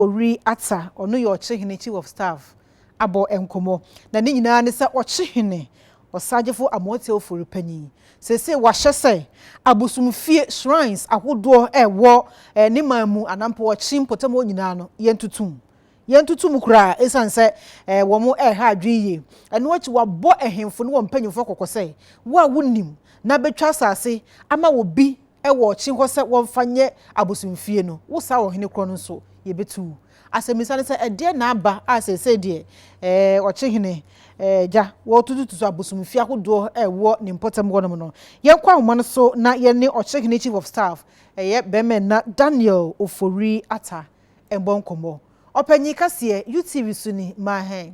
Owiri Atta, ɔno yɛ Ɔkyehene, Chief of Staff, abɔ nkɔmmɔ. Na ne nyinaa ne sɛ Ɔkyehene Ɔsagyefo Amoah Teofori Panyin, seesei wahyɛ sɛ abosomfie, shrines, ahodoɔ a ɛwɔ ne man mu anaa mpo Ɔkye mpɔtam hɔ nyinaa no, yɛntoto mu. Yɛntoto mu koraa esiane sɛ wɔn reha adwene yie. Ɛno akyi wabɔ ahemfo ne wɔn mpanyimfoɔ kɔkɔ sɛ, Wo a wonim na bɛtwa asase ama obi, wɔ ɔkye hɔ sɛ wɔmfa nyɛ abosomfie no, wo saa ɔhene korɔ no nso, yɛbɛtu wo. Asɛmmisa ne sɛ, ɛdeɛn na aba a seesei deɛ eh, ɔkye hene eh, gya, wɔretutututu abosomfie ahodoɔ a ɛwɔ ne mpɔtam hɔnom no? Yɛnkɔ ahoma no so na yɛne ɔkye hene Chief of Staff, ɛyɛ bɛrima nna, Daniel Ofori Atta mmɔ nkɔmmɔ. Ɔpanyin kaseɛ, UTV so ni, ma hɛn.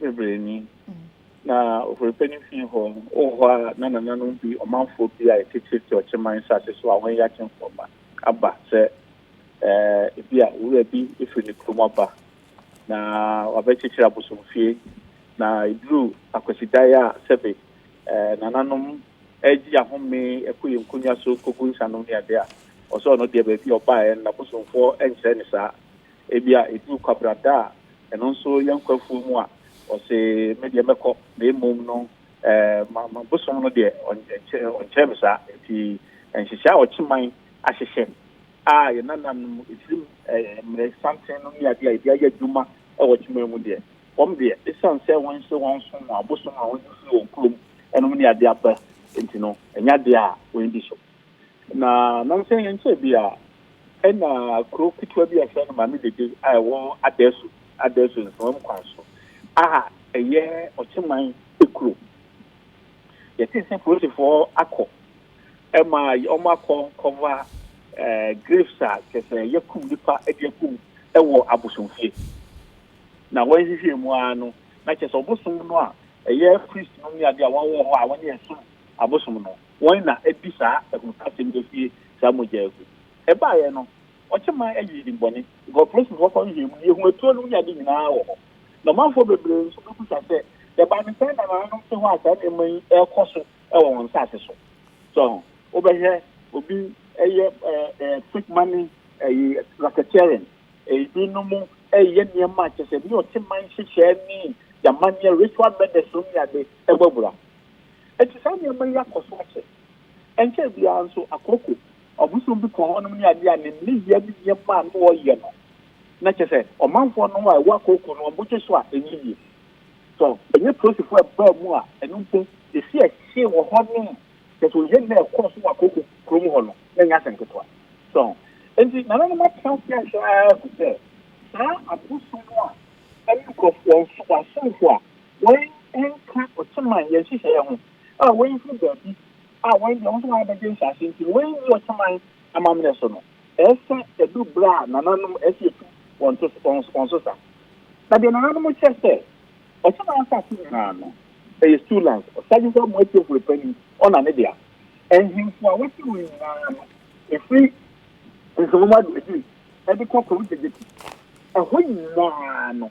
bebree ni. Na Oforipa no fii hɔ no, wɔ hɔ a na nananom bi, ɔmanfoɔ bi a yɛte Tirti ɔkyeman nsase so a wɔnyɛ akyemfoɔ mma, aba sɛ ebi a owura bi firi ne kurom aba na wabɛkyekyere abosomfie. Na ɛduruu Akwasidaeɛ a sɛbe nananom regye ahome kɔ yɛn nkonnwa so rekɔgu nsanom ne adeɛ a, ɔsɛ ɔno deɛ baabi a ɔbaeɛ no n'abosomfoɔ nkyerɛ no saa. Ebia eduu kwabra da a ɛno nso yɛ nkwa afuo mu a, ɔse, Me deɛ mɛkɔ, na mmom no ɛɛ ma bosom no deɛ ɔnkyɛɛ me saa. Enti nhyehyɛe a ɔkye man ahyehyɛ no a yɛn nananom ɛfirim ɛɛ mmerɛ santen no ne adeɛ a yɛde ayɛ adwuma wɔ ɔkye man mu deɛ, wɔn deɛ ɛsiane sɛ wɔnhyɛ wɔn som wɔn abosom a wɔde firi wɔn kurom nom ne adeɛ aba nti no, ɛnyɛ adeɛ a wɔn ani gye so. Na nansa yi nkyɛe bi a, ɛna kurow ketewa bi a yɛfrɛ no Maame Dede a ɛwɔ Adasu, Adasu Nsawam kwan so a ɛyɛ Ɔkyeman kurom. Yɛtee sɛ polisifoɔ akɔ ma wɔakɔ kɔva graves a kyerɛ sɛ yɛakum nnipa de akum wɔ abosomfie. Na wɔnhwehwɛɛ mu ara no, na kyerɛ sɛ ɔbosom no a ɛyɛ priest nom ne adeɛ a wɔwɔ hɔ a wɔne yɛn som abosom no, Wɔn na adi saa ahunukasɛm yi asie saa mogya yi ho. Ɛbaeɛ no, wɔkye man ayi dimmɔne, nkɔmplesn hɔ kɔ nhwɛɛ mu, yɛhu atuo no wunyadeɛ nyinaa wɔ hɔ. Na ɔmanfoɔ bebree nso bɛbisa sɛ, Ɛbaa ne sɛn na nananom te hɔ a saa nneɛma yi rekɔ so wɔ wɔn nsase so? So ho. Wobɛhwɛ obi reyɛ fake money ɛyi, racketeering, ebinom reyɛ nneɛma a kyerɛ sɛ ne ɔkye man nhyehyɛɛ ne amanneɛ, ritual murders nom ne ade, ɛbɔ abira. Enti saa nneɛma yi akɔ so akyɛ. Ɛnkyɛe biara nso, akooko, ɔbosom bi kɔɔ hɔnom ne ade a ne nneyɛe ne nneɛma a na ɔyɛ no, na kyerɛ sɛ, ɔmanfoɔ no a ɛwɔ akooko no, wɔgye so a ɛnyɛ yie. Tɔ, ɛnyɛ polisifoɔ a ɛbaa mu a ɛno mpo, ɛsi a ɛhyee wɔ hɔnom, kyerɛ sɛ, oye no a ɛkɔɔ so wɔ akooko kurom hɔ no, na ɛnyɛ asɛm ketewa. So ho? Enti nananom atena ase ahwɛ ara agu sɛ saa abosom a ɛne nkurɔfo, wɔn asomfo a. wɔanka ɔtaman yɛ nhyehyɛeɛ ho, a wɔafiri baabi a wɔn deɛ wɔn nso wɔabɛgye nhyɛaseɛ nti no, wɔanni ɔtaman amammerɛ so no, ɛyɛ sɛ ɛduru berɛ a nananom ɛsɛ sɛ yɛtu wɔn to wɔn so sa. Na deɛ nananom kyerɛ sɛ ɔtaman asase nyinaa no, ɛyɛ Stu Lands, Ɔsadwefoɔ Mmoatiefoɔ Panin, ɔna ne dea. Nhemfo a wɔte hɔ nyinaa no, ɛfiri Nkrumah Adwumaden de kɔ Kwame Gyekyeku, ɛhɔ nyinaa no,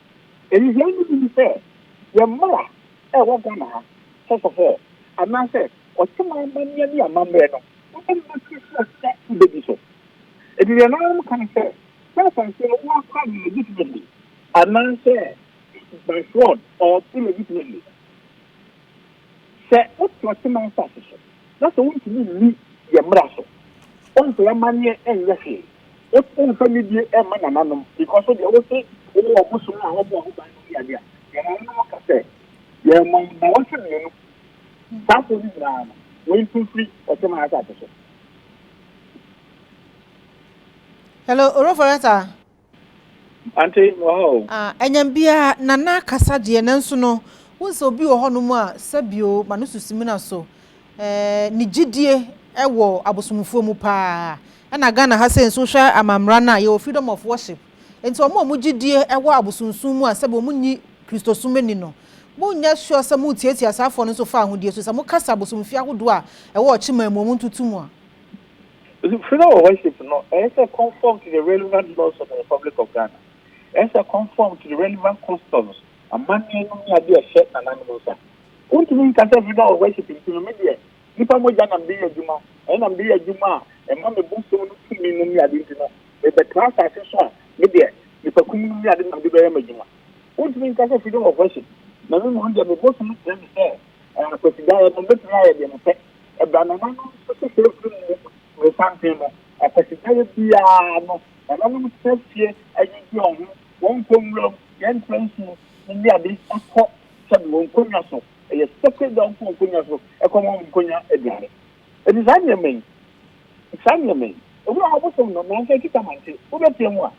Anihiayi no bi ne sɛ, yɛn mmara a ɛwɔ Ghana ha sɛ sɔfɔɔ anaasɛ ɔteman amanneɛ ne amammerɛ no wode mma tiri so ɔsɛ wobɛdi so. Enti deɛ na wɔka ne sɛ, sɛ asase no woakora no legitimately anaasɛ by fraud or illegitimately. Sɛ wotena Teman asase so na sɛ wontumi nni yɛn mmara so, womfa yɛn amanneɛ nyɛ hwee, womfa anidie mma nananom, because wo deɛ wose wowɔ wɔn bosom a wɔbɔɔ ho ban no yɛ ade a, yɛn nananom ka sɛ, Yɛremma wo nnawɔtwe mmienu. Saa afoɔ no nyinaa no, wei nso mfiri ɔteman asase so. Hello, Orofo Retta. Ante wɔ hɔ o. Ah ɛnyɛm biaa Nana kasa deɛ nanso no wohu sɛ obi wɔ hɔ nom a sɛbio ma no so simina so eh ne gyidie wɔ abosomfoɔ mu paa ɛna Ghana ha sei nso wohwɛ amammra no a yɛwɔ freedom of worship nti wɔn a wɔn gyidie wɔ abosomsom mu a sɛbi wɔn nyi kristosom nni no mo nyɛ sure sɛ mo tiatia saa foɔ no nso fa ahodie so sɛ mo kasa abosomfie ahodoɔ a ɛwɔ ɔkyeman mu wɔn ntutu mo a. Funeral worship no, ɛsɛ sɛ conform to the relevant laws of the Republic of Ghana. Ɛsɛ sɛ conform to the relevant customs, amanneɛ nom ne adeɛ a ɛhyɛ nananom nsa. Wontumi nka sɛ funeral worship nti no, me deɛ, nnipa mogya na mede yɛ adwuma, ɛno na mede yɛ adwuma a ɛma me bosom no tumi nom ne adeɛ nti no, mebɛtra asase so a, me deɛ, nnipakum nom ne adeɛ na mede bɛyɛ m'adwuma. Wontumi nka sɛ funeral worship na me mmom deɛ me bosom kyerɛ me sɛ, ɛɛ, Kwasidaeɛ no, mɛtumi ayɛ deɛ mepɛ. Ɛda nananom so sɛ saa firi mu resanten no, akwasidaeɛ biara no nananom tena fie adwidwi wɔn ho, wɔnkɔ nwuram, yɛntra nsuo mu ne ade kɔ sɛdeɛ wɔn nkonnwa so, ɛyɛ sacred da wɔnkɔ wɔn nkonnwa so kɔ ma wɔn nkonnwa aduane. Ɛti saa nneɛma yi, saa nneɛma yi, ebi wɔ hɔ ɔbosom no nanso ɛkita mante, wobɛtea mu a,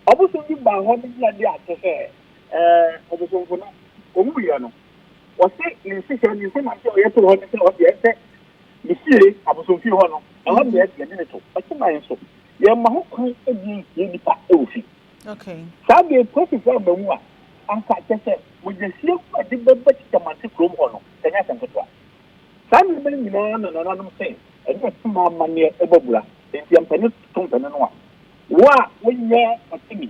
ɔbosom bi baa hɔ bɛgyina de akyɛ sɛ ɛɛ ɔbosomfo no ɔwuiɛ no, Wɔse ne nhyehyɛɛ ne nsɛmma nti a ɔyɛ too hɔ ne sɛ ɔse ɛnsɛ ne fie abosomfie hɔ no, ɛhɔ no na ɛte ɛde ne to. Ɔse man nso, yɛmma ho kwan ɛde nsie nnipa wɔ fi. Saa deɛ apolisifoɔ amma mu a, anka kyerɛ sɛ mogyahwie gu a ɛde bɛba Kyitamanti kurom hɔ no, ɛnyɛ asɛm ketewa. Saa nneɛma yi nyinaa na nananom se ɛne ɔtema amanneɛ bɔ abira. Enti ɛmpɛ ne to mpɛ ne noa. Wo a wonyɛ ɔtemi